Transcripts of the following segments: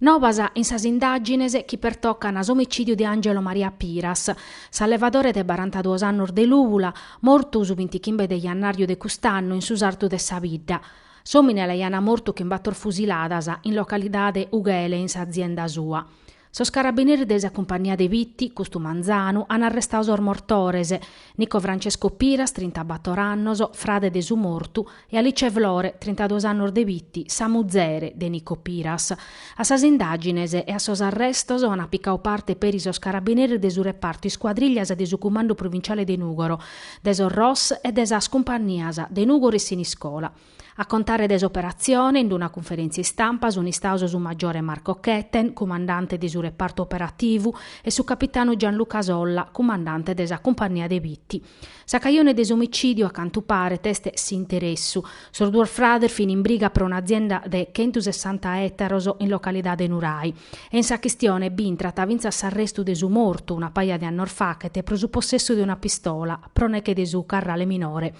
Nobas in sas indàgines chi pertocant s'omicìdiu de Angelo Maria Piras, s'allevadore de barantaduos annos de Lùbula, mortu su bintichimbe de jannàrriu de cust'annu in su sartu de sa bidda. S'òmine l'aiana mortu chin bator fusiladas in localidade Ughele in s'azienda sua. Sos carabineris de sa cumpagnia de Bitti, custu manzanu, an arrestadu sos mortores, Nico Francesco Piras, trintabator annos, frade de su mortu, e Alice Flore, trintaduos annos de Bitti, sa muzere de Nico Piras. A sas indàgines e a sos arrestos ana picadu parte peri sos carabineris de su repartu iscuadrìllias de su Cumandu Provinciale de Nùgoro, de sos ROS e de sas cumpagnias de Nùgoro e Siniscola. A contare de s'operatzione, in d-una cunferèntzia istampa sunt istados su maggiore Marco Ketten, cumandante de su repartu operativu, e su capitanu Gianluca Solla, cumandante de sa cumpagnia de Bitti. Sa cajone de s'omicìdiu, a cantu paret, est s'interessu. Sos duos frades fin in briga pro un'azienda de chentu sessanta ètaros in localidade Nurai e in sa chistione b'intrat fintzas s'arrestu de su mortu una paja de annos fachet pro su possessu de una pistola pro neche de su carrale minore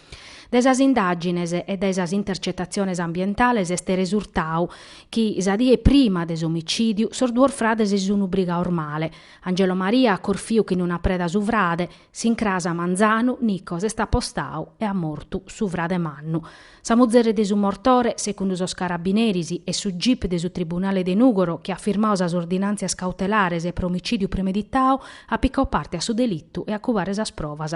Dae sas indàgines e dae sas intercetatziones ambientales est resurtadu chi sa die prima de s'omicìdiu sos duos frades si sunt brigados male. Angelo Maria at corfiu chin una preda su frade, s'incras a manzanu Nico s'est apostadu e at mortu su frade mannu. Sa muzere de su mortore, segundu sos carabineris e su gip de su tribunale de Nùgoro chi at firmadu sas ordinàntzias cautelares pro omicìdiu premeditadu, at picadu parte a su delitu e a cubare sas provas.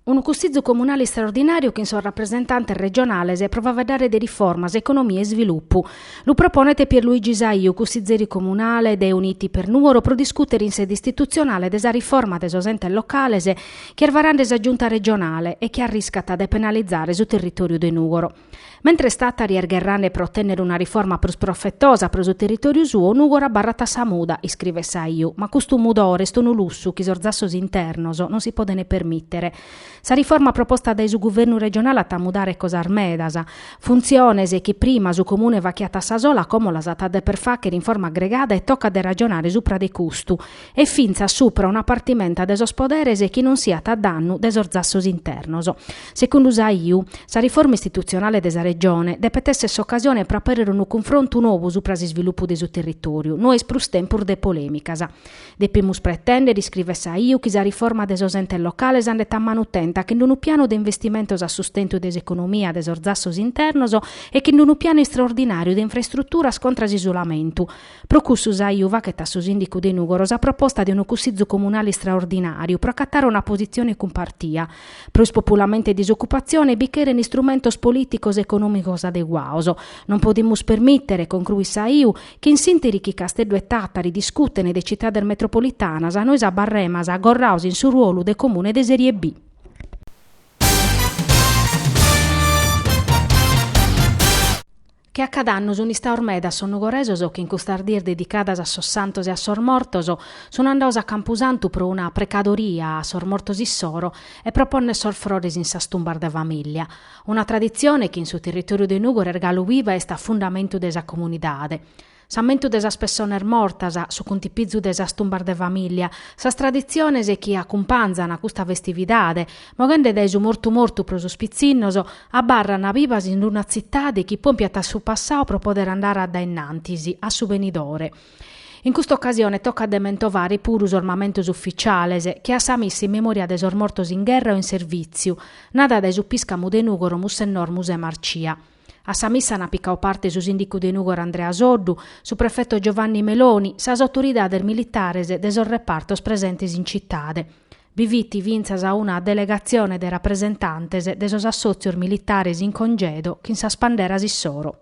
Unu cussizu comunale istraordinàriu chin sos rapresentantes regionales pro faeddare de riformas, economia e isvilupu. Lu proponet Pier Luigi Saiu, cussizeri comunale de Uniti per Nuoro pro discùtere in sede istitutzionale de sa riforma de sos entes locales chi est varande sa Giunta regionale e chi arriscat de penalizare su territòriu de Nùgoro. Mentres Tàtari est gherrande pro otènnere una riforma prus profetosa pro su territòriu suo, Nùgoro abarrat a sa muda, iscrivet Saiu, ma custu mudore est unu lussu chi sos zassos internos non si podent permìtere. Sa riforma proposta dae su guvernu regionale at a mudare cosas medas, funtziones chi prima su comune fachiat a sa sola como las at a deper fàghere in forma agregada e tocat de ragionare supra de custu, e fintzas supra una partimenta de sos poderes chi non siat a dannu de sos zassos internos. Segundu Saiu, sa riforma istitutzionale de sa Regione depet èssere s'ocasione pro apèrrere unu cunfrontu nou supra s'isvilupu de su territòriu, no est prus tempus de polèmicas. Depimus pretèndere, iscrivet Saiu, chi sa riforma de sos entes locales andet a manu tenta chin d-unu pianu de investimentos a sustentu de s'economia de sos zassos internos e chin d-unu pianu istraordinàriu de infrastruturas contra s'isolamentu, Pro cussu Saiu faghet a su sìndicu de Nùgoro sa proposta de unu cussìtzu comunale istraordinàriu pro acatare una positzione cumpartia. Pro ispopulamentu e disocupatzione bi cheren istrumentos polìticos e econòmicos adeguados. Non podimus permìtere, concruit Saiu, chi in s'ìnteri chi Casteddu e Tàtari discutene de citades metropolitanas nois abarremas agorrados in su ruolu de comune de Serie B. che a cad'annu sun istados medas sos nugoresos chi in custas dies dedicadas a sos santos e a sos mortos sun andados a Campusantu pro una precadoria a sos mortos issoro e pro ponner sos frores in sas tumbas de famìllia, una traditzione chi in su territòriu de Nùgoro est galu viva e est a fundamentu de sa comunidade. s'ammentu de sas pessones mortas, su cuntipizu de sas tumbas de famìllia, sas traditziones chi acumpanzan custa festividade, moghende dae su mortu mortu pro sos pitzinnos, abarran bibas in una tzitade chi pompiat a su passadu pro podere andare a dae innantis, a su benidore. In custa ocasione tocat de mentovare puru sos mamentos ufficiales, che a sa missa in memòria de sos mortos in gherra o in servìtziu, nada dae su piscamu de Nùgoro Mussennor Musè Marcia. A sa missa ant picau parte su sìndicu de Nùgoro Andrea Soddu, su prefeto Giovanni Meloni, sas autoridades militares de sos repartos presentes in citade. Bi fit fintzas una delegatzione de rapresentantes de sos assòtzios militares in congedo chin sas panderas issoro.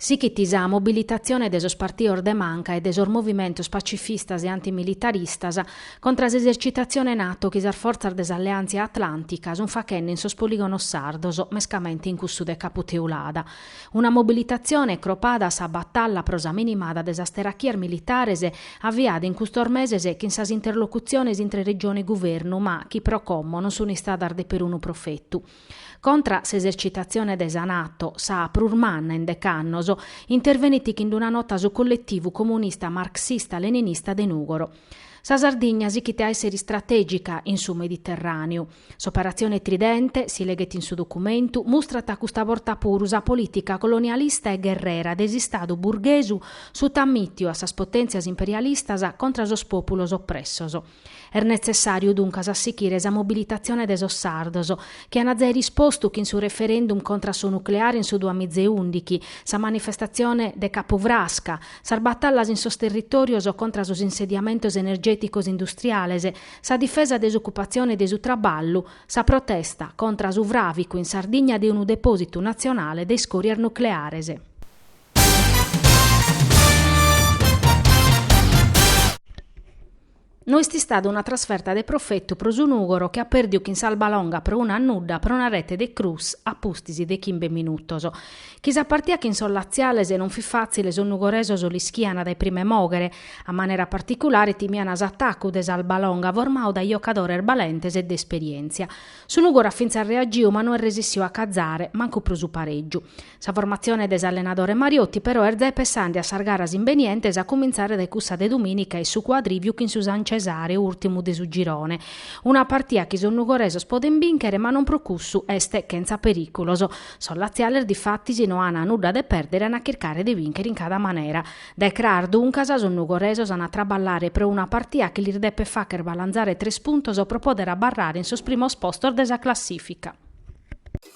Sighit sa mobilitatzione de sos partidos de manca e de sos movimentos pacifistas e antimilitaristas contra s'esercitatzione NATO chi sas fortzas de s'alleàntzia atlàntica sunt faghende in sos polìgonos sardos, mescamente in cussu de Capu Teulada. Una mobilitatzione cropada a sa batalla pro sa minimada de sas terachias militares aviada in custos meses chin sas interlocutziones intre Regione e Guvernu ma chi pro como non sunt istadas de perunu profetu. Contra s'esercitatzione de sa NATO, sa prus manna in decannos, intervenit chin d'una nota su Colletivu Comunista Marxista-Leninista de Nùgoro. Sa Sardigna sichit a èssere istratègica in su Mediterràneu. S'operatzione Tridente, si leghet in su documentu, mustrat custa borta puru sa polìtica colonialista e gherrera de s'istadu burghesu sutamìtiu a sas potèntzias imperialistas contra sos pòpulos opressos. Est netzessàriu duncas a sichire sa mobilitatzione de sos sardos, chi an zai rispostu chin su referendum contra a su nucleare in su duamiza e ùndighi, sa manifestatzione de Capufrasca, sas batallas in sos territòrios contra a sos insediamentos energèticos industriales, sa difesa de s'ocupatzione e de su traballu, sa protesta contra a su fràvicu in Sardigna de unu depòsitu natzionale de iscòrias nucleares. No est istada una trasferta de profetu pro su Nùgoro chi at pèrdiu chin s'Albalonga pro unu a nudda pro una rete de Cruz a pustis de chimbe minutos. Chi sa partida chin sos latziales non fit fàtzile sos nugoresos l'ischian dae prime mòghere, a manera particulare timian s'atacu de s'Albalonga formadu dae jocadores balentes e de esperièntzia. Su Nùgoro at fintzas reagiu ma no est resissiu a cazare mancu pro su parègiu. Sa formatzione de s'allenadore Mariotti però est ja pessande a sas garas imbenientes a cumintzare dae cussa de dumìnica in su Cuadrìviu chin su San Cesare, ùrtimu de su girone. Una partia chi sos nugoresos podent bìnchere ma non pro cussu est chentza perìculos. Sos latziales difatis no an nudda de pèrdere ant a chircare de bìnchere in cada manera. Dae cras duncas sos nugoresos ant a traballare pro una partia chi lis depet fàghere balantzare tres puntos pro pòdere abarrare in sos primos postos de sa classìfica.